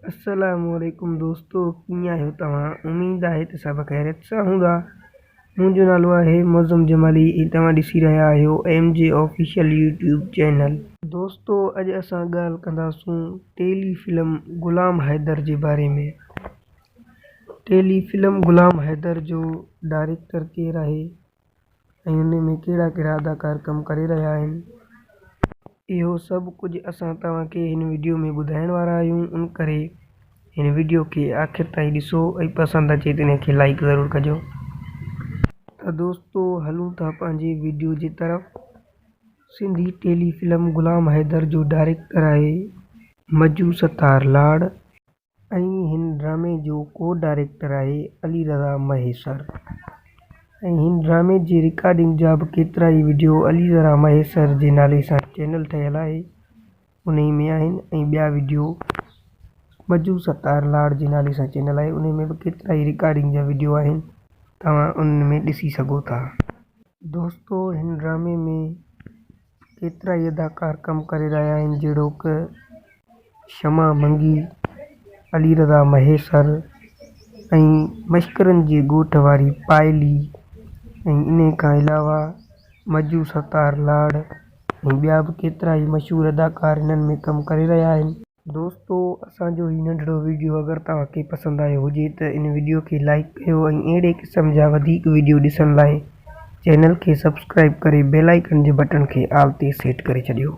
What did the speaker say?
السلام عليڪم دوستو ڪيئن آهيو توهان اميد آهي ته سڀ خيريت سان هوندا منهنجو نالو آهي معظم جمالي ۽ توهان ڏسي رهيا آهيو ايم جي آفيشل يوٽيوب چينل دوستو اڄ اسان ڳالهه ڪنداسون ٽيلي فلم غلام حيدر جي باري ۾ ٽيلي فلم غلام حيدر جو ڊائريڪٽر ڪير آهي ۽ انهي ۾ ڪهڙا ڪهڙا اداڪار ڪم ڪري رهيا آهن اهو سڀ ڪجهه اسان توهان کي هن وڊيو ۾ ٻڌائڻ وارا آهيون ان ڪري هن وڊيو کي آخر تائين ڏسو ۽ پسند اچي ته انهي کي لائيڪ ضرور ڪجو ته دوستو هلون ٿا پنهنجي وڊيو جي طرف سنڌي ٽيلي فلم غلام حيدر جو ڊائريڪٽر آهي مجو ستار لاڙ. ۽ هن ڊرامي جو ڪو ڊائريڪٽر آهي علي رضا مهيسر ۽ هن ڊرامي جي رڪارڊنگ جا به ڪيترا ئي وڊيو علي رضا مهيسر جي نالي سان چينل ٺهيل آهي انهي ۾ آهن ۽ ٻيا وڊيو ٻجو ستار لاڙ جي نالي سان چينل آهي انهي ۾ به ڪيترا ئي رڪارڊنگ جا وڊيو آهن توهان انهن ۾ ڏسي سگهو ٿا. دوستو هن ڊرامي ۾ ڪيترائي اداڪار ڪم ڪري رهيا آهن جهڙوڪ شمع منگي، علي رضا مهيسر ۽ مشڪرن جي ڳوٺ واري پائلي ۽ انهي کان علاوه مجو ستار لاڙ ۽ ٻيا به ڪيترائي مشهور اداڪار هنن ۾ ڪم ڪري رهيا آهن. دوستو اسان جو هي ننڍڙو ويڊيو اگر توهان کي پسند آيو هجي ته ان ويڊيو کي لائيڪ ڪيو ۽ اهڙي قسم جا وڌيڪ ويڊيو ڏسڻ لاء چينل کي سبسڪرائيب ڪري بيل آئيڪن جي بٽڻ کي آل تي سيٽ ڪري ڇڏيو.